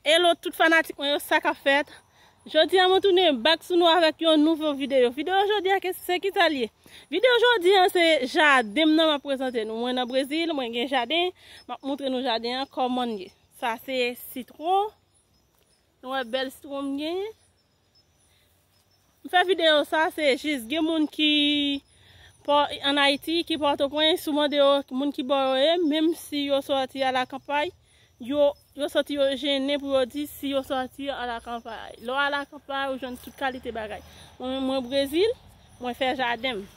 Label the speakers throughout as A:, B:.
A: Hello tout fanatik mwen yo sa kap fèt Jodi a mwen tounen bak sou nou avèk yon nouvo video Video jodi a se ki sa li ye Video jodi a se jaden m nan map prezante nou Mwen nan Brezil mwen gen jaden Map moutre nou jaden an kòman l ye Sa se sitwon Nou wè bèl sitwon m genyen M fè video sa se jis gen moun ki an Ayiti, ki Pòtoprens, ou mande yo moun ki bò yo ye, menm si yo sòti a la kanpay, yo santi yo jennen pou yo di si yo sòti a la kanpay. Lè w a la kanpay ou jwenn tout kalite bagay. Mwen menm mwen Brezil, mwen fè jaden m.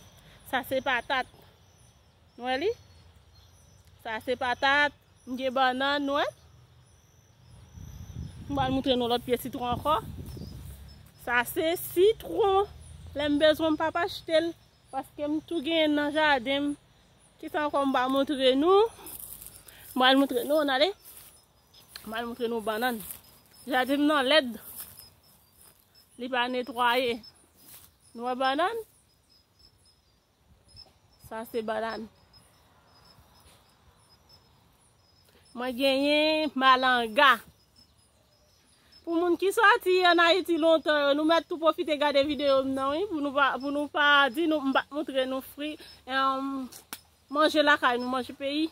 A: Sa se patat. N wè li? Sa se patat, m gen bannann, n wè? M pral moutre nou lòt pye sitwon ankò. Sa se sitwon. Lè m bezwen m pa pa achte l. Paske m tou genyen nan jaden m. Ki sa ankò m pa moutre nou. M pral moutre nou an ale. M pral moutre nou bannann. Jaden m nan lèd. Li pa netwaye. Nou wè bannann. Sa se banane. Mwen genyen malanga. Pou moun ki soti an Ayiti lontan yo, nou mèt tou pwofite gade videyo m nan wi, pou nou pa di nou m pa moutre nou fri, manje lakay nou, manje peyi.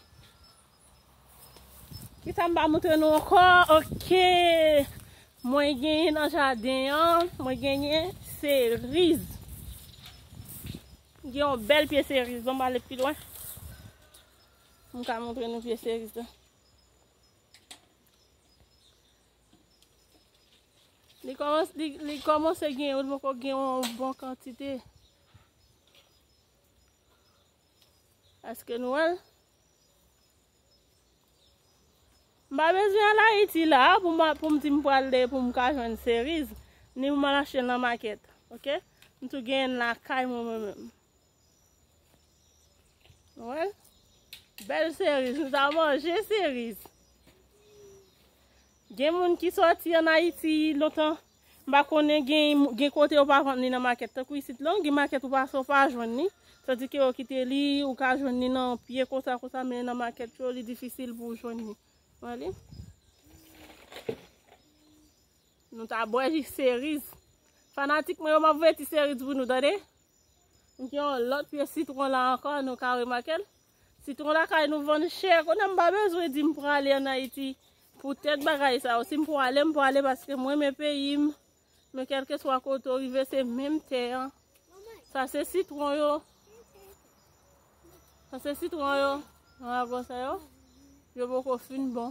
A: Kisa m pa montre nou ankò ok mwen genyen nan jaden an mwen genyen seriz gen yon bèl pye seriz banm ale pi lwen pou m ka montre nou pye seriz la li kòmanse li kòmanse gen li poko gen yon bon kantite èske nou wèl. M pa bezwen al Ayiti la a pou m di m pral de pou m ka jwenn seriz, ni pou m al achte l nan makèt. Ok? M tou genyen l lakay mwen mwen menm. Ou wè l? Bèl seriz. Nou ta manje seriz. Gen moun ki sòti an Ayiti lontan. M pa konnen gen kote yo pa vann li nan makèt tankou isit la, gen makèt ou pase ou pa jwenn li, tandi ke yo kite li, ou ka jwenn li nan pye konsa konsa men nan makèt yo li difisil pou jwenn li. Wè li? Nou ta bwè ji seriz. Fanatik mwen yo m ap voye ti seriz pou nou tande. M gen yon lòt pye sitwon la ankò nou ka remake l. Sitron lakay nou vann chè, kounye a m pa bezwen di m prale an Ayiti poutèt bagay sa yo. Si m prale, m prale paske m renmen peyi m, men kèlkeswa kote w rive se menm tè an. Sa se sitwon yo, sa se sitwon yo, yon lago sa yo, yo poko fin bon.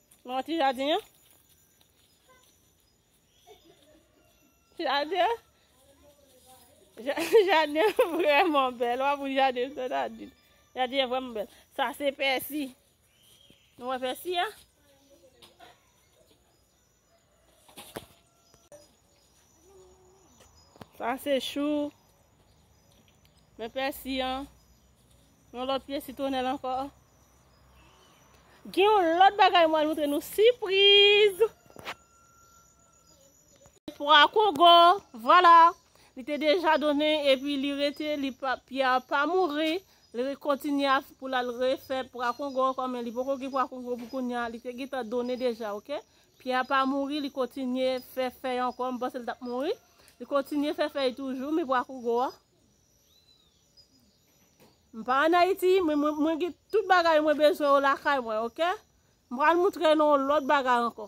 A: Manman ti jadin an. Ti jadin an. Jadin an vreman bel. Wap ou jadin an sot adin. Jadin an vreman bel. Sa se pèsi. Nou wè pèsi an. Sa se chou. Men pèsi an. Yon lòt pye sitwonèl ankò. Gen yon lòt bagay mwen al moutre nou. Sipriz! Pwa kongo. Vwala. Li te deja donnen epi li rete. Li pa pye a pa mouri. Li re kontinye a pou la refè pwa kongo. Kòm li poko gen pwa kongo pou kounya. Li te gen tan donnen deja. Ok? Pyè a pa mouri, li kontinye fè fèy ankò, m panse l t ap mouri. Li kontinye fè fèy toujou, men pwa kougo a. M pa an Ayiti, men mwen gen tout bagay mwen bezwen yo lakay mwen, ok? M pral montre nou yon lòt bagay ankò.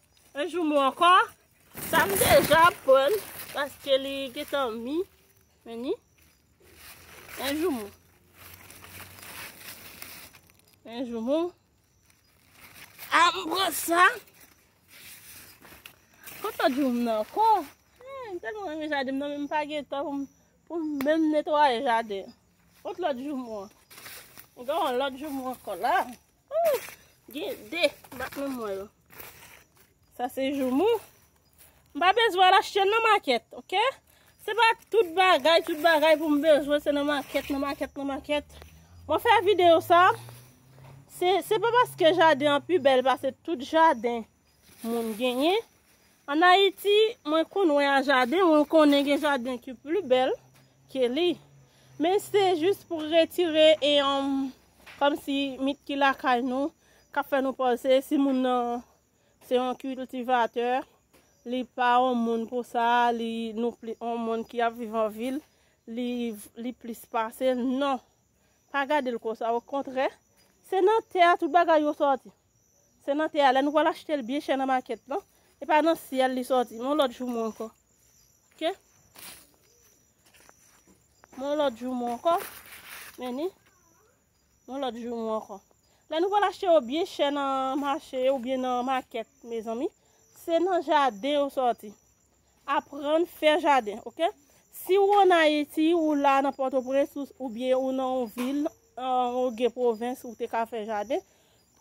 A: Yon jou mou ankò. Sa m deja aprann paske li gentan mi. Men ni. Yon jou mou. Yon jou mou. A m pran sa. Kontan di ou m nan ankò. M telman renmen jaden m nan men m pa gen tan pou m pou m menm netwaye jaden. Kont lòt jou mou an. M gen yon lòt jou mou ankò la. Gen de bat nan mwen yo. Sa se joumou. M pa bezwen al achte nan makèt, ok? Se pa tout bagay, tout bagay pou m bezwen se nan makèt, nan makèt, nan makèt. Mwen fè videyo sa, se pa paske jaden an pi bèl pase tout jaden moun genyen. An Ayiti, mwen konn wè a jaden, mwen konnen gen jaden ki pli bèl ke li. Men se jis pou retire e yon Kòm si mit ki lakay nou kap fè nou panse si moun nan se yon kiltivatè, li pa yon moun pou sa, li nou pli yon moun ki ap viv an vil, li li plis pase l, non! Pa gade l konsa, okontrè, se nan tè a tout bagay yo sòti. Se nan tè a, lè nou pral achte l byen chè nan makèt lan. E pa nan syèl li sòti. Men yon lòt joumou ankò. Ok? Men yon lòt joumou ankò. Men ni. Men yon lòt joumou ankò. Lè nou pral achte yo byen chè nan mache ou byen nan makèt, mezanmi, se nan jaden yo sòti. Aprann fè jaden ok. Si ou an Ayiti, ou la nan Pòtoprens ou byen ou nan yon vil ou gen pwovens ou te ka fè jaden,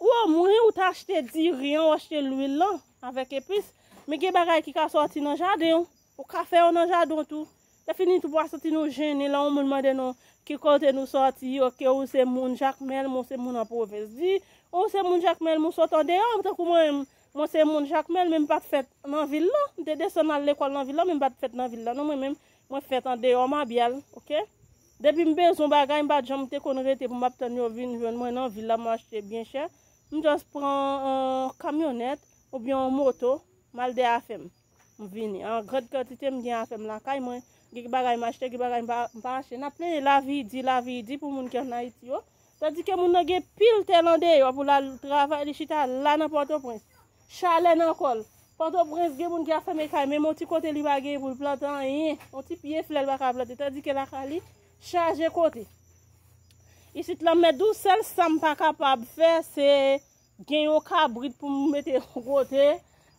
A: ou o mwen ou ta achte diri an ou achte lwil lan avèk epis, men gen bagay ki ka sòti nan jaden ou, ou ka fè yo nan jaden ou tou. E fini tou pa santi nou jennen lè yon moun mande nou ki kote nou sòti yo, ke ou se moun Jakmèl, mwen se moun an pwovens. Di ou se moun Jakmèl, mwen sòt andeyò tankou mwen menm, Mwen se moun Jakmèl men m pa t fèt nan vil lan. M te desann al lekòl nan vil lan men m pa t fèt nan vil lan non mwen menm. Mwen fèt andeyò Mabyal ok. Depi m bezwen bagay m pa t janm te konn rete pou m ap tann yo vin jwenn mwen nan vil la m achte byen chè. M just pran yon kamyonèt oubyen yon moto m al de afè m. M vini an grand kantite m gen afem lakay mwen gen bagay m achte gen bagay m pa achte nap plenyen lavi di lavi di pou moun ki an ayiti yo tandi ke moun nan gen pil tèl an deyò pou lal travay li chita la nan pòtoprens chalè nan kòl pòtoprens gen moun ki ap fèmen kay menm yon ti kote li pa gen pou l plante anyen yon ti pye flè l pa ka plante tandi ke lakay li chaje kote isit lanmè dous sèl sam pa kapab fè se Gen yon kabrit pou m mete yon kote,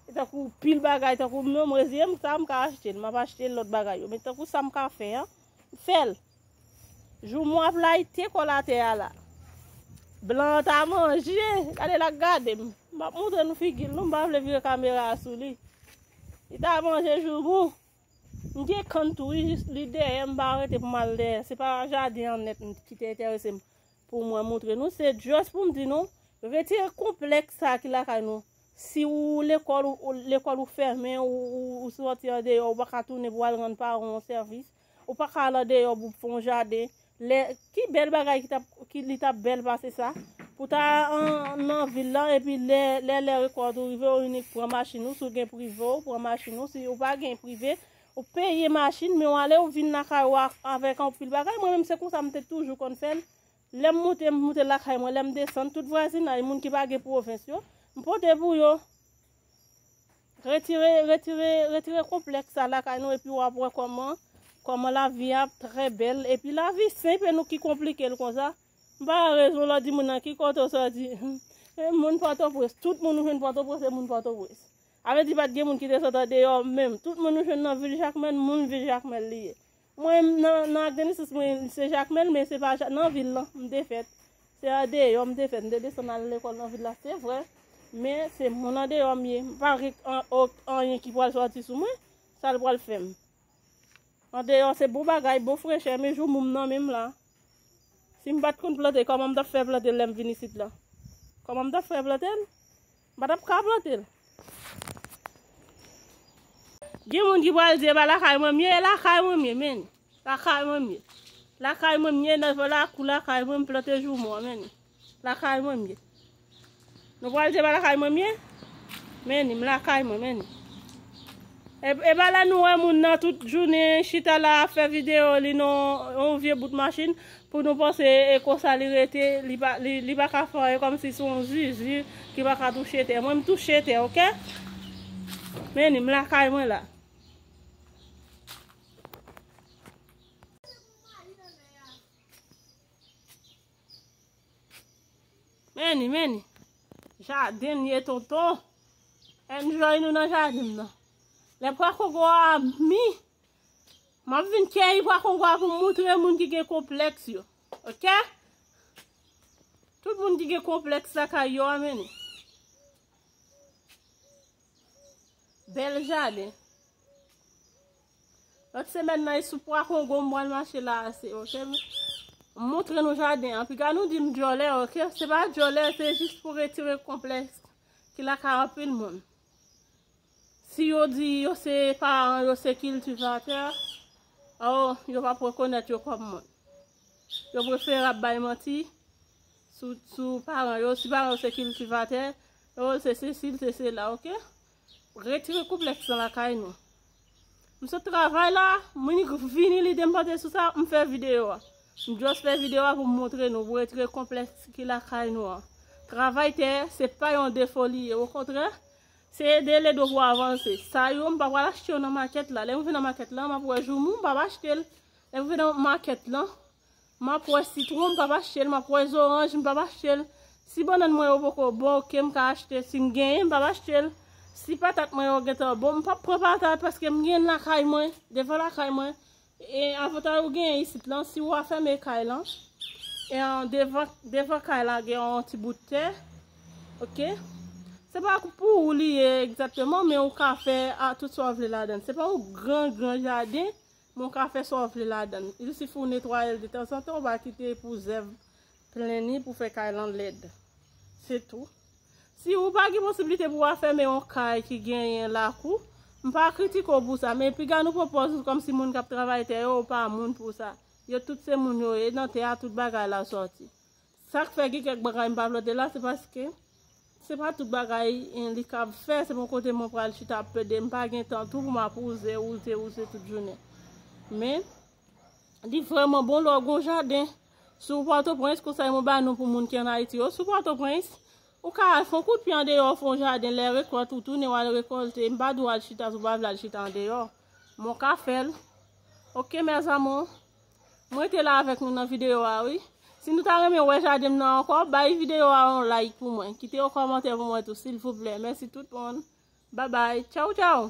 A: e tankou pil bagay tankou m yo, m reziye m sa m ka achte l, m ap achte lòt bagay yo. Men tankou sa m ka fè an, m fè l. Jou mwen ap layite kòl atè a la, blan an ta manje, gade l ak gade m. M pap montre nou figi l non, m pa vle vire kamera a sou li. Li ta manje jou mwen. M gen kann tou wi, jis li dèyè m pa rete pou m al dèyè. Se pa jaden an nèt m ki te enterese m. Pou mwen moutre nou se just pou m di nou retire konplèks sa ki lakay nou si ou lekòl ou lekòl ou fèmen ou sòti andeyò ou pa ka tounen pou al rann paran w sèvis ou pa ka al andeyò pou fè yon jaden lè ki bèl bagay ki tap ki li tap bèl pase sa pou ta nan vil la epi lè lè lè rekòt ou rive ou inik pran machin ou si w gen prive ou pran machin ou si ou pa gen prive Ou peye machin men w ale ou vin lakay ou avèk anpil bagay, mwen menm se konsa m te toujou konn fè l, lè m moute m moute lakay mwen, lè m desann tout vwazinay moun ki pa gen pwovens yo, m pote pou yo. Retire retire retire konplèks sa lakay nou epi w ap wè kòman kòman lavi a ap trè bèl epi lavi senp e nou ki konplike l konsa. M pa wè rezon lè w di moun nan ki kote w soti, moun Pòtoprens, tout moun ou jwenn Pòtoprens se moun Pòtoprens. Avè di pat gen moun ki te sot andeyò menm. Tout moun nou jwenn nan vil Jakmèl, moun vil Jakmèl li ye. Mwen menm nan nan ak de nesans mwen se Jakmèl men se pa nan vil lan m te fèt. Se andeyò m te fèt. M te desann al lekòl nan vil la se vre men se moun andeyò m ye. M pa vle anyen ki pral sòti sou mwen. Sa l pral fè m. Andeyò se bon bagay, bon frechè men jou moum nan menm la. Si m pat konn plante kòman m t ap fè plante lè m vin isit la? Kòman m t ap fè plante l? M pa tap ka plante l. Gen moun ki pral di e pa lakay manmie e lakay manmie men ni lakay manmie lakay manmie nan vo lakou lakay mwen m plante joumou an men ni lakay manmie nou pral di e pa lakay manmie men ni m lakay mwen men ni e pa la nou wè moun nan tout jounen chita la ap fè video li nan yon vye bout machin Pou nou panse e konsa li rete li pa ka fè anyen kòmsi son zuzu ki pa ka touche tè mwen m touche tè ok men ni m lakay mwen la. Men ni men ni jaden m ye tonton enjoy nou nan jaden m nan lè pwa kongo a mi. Map vin keyi pwa kongo pou m moutre moun ki gen konpleks yo ok tout moun ki gen konpleks lakay yo a mennen bel jaden lot semen nan e sou pwa kongo m pwal mache la ase ok m moutre nou jaden an piga nou dim dyòlè ok se pa dyòlè se jis pou retire konpleks ki lakay anpil moun. Si yo di yo se paran yo se kiltivatè, oh yo pap rekonèt yo kòm moun. Yo preferab bay manti sou paran yo. Si paran yo se kiltivatè, oh l se sesi, l se sela, ok? Retire konplèks lan lakay nou. M sot travay la, mwen vini lide m panse sou sa, m fè videyo a. M just fè videyo a pou m montre nou, pou retire konplèks ki lakay nou an. Travay tè, se pa yon defo li ye, okontrè, se ede lede w pou w avanse. Sa yo, m pa pral achte yo nan makèt la. Lè mwen vin nan makèt la, m ap wè joumou, m pa ap achte l. Lè mwen vin nan makèt la, Map wè sitron m pap achte l, map wè zoranj m pap achte l, si bannann mwen yo poko bon ok m ka achte sim genyen m pap achte l, si patat mwen yo gentan bon m pap pran patat paske m genyen lakay mwen devan lakay mwen e avantay ou genyen isit lan si ou afème kay lan e devan devan kay la gen yon ti bout tè ok se pa pou ou li ye egzakteman men ou ka fè a tout sa ou vle ladan se pa yon gran gran jaden Men w ka fè sa w vle ladan l. Il sifi w netwaye l detanzantan, w va kite pou zèv pleni pou fè kay lan lèd. Se tou. Si ou pa gen posibilite pou w afème yon kay ki genyen lakou, m pa kritike w pou sa, men piga nou pran pòz nou kòmsi moun k ap travay tè yo pa moun pou sa. Yo tout se moun yo ye, nan tè a tout bagay la sòti. Sak fè gen kèk bagay m pa vle te la se paske se pa tout bagay li kab fè, se pa yon kote mwen pral chita ap plede, m pa gen tan tou pou m ap wouze, wouze, wouze tout jounen. Men, li vrèman bon lè w gen yon jaden. Si w Pòtoprens, konsèy mwen ba nou pou moun ki an Ayiti yo, si w Pòtoprens, ou ka al fè yon kout pye andeyò, fè yon jaden, lè rekòt ou tounen w al rekòlte, m pa di w al chita si w pa vle al chita andeyò, men w ka fè l. Ok mes amours. M rete la avèk nou nan videyo a wi. Si nou ta renmen wè jaden m nan ankò, bay videyo a yon like pou mwen. Kite yon kòmantè pou mwen tou silvouplè. Mèsi tout moun. Babay. Tchawtchaw!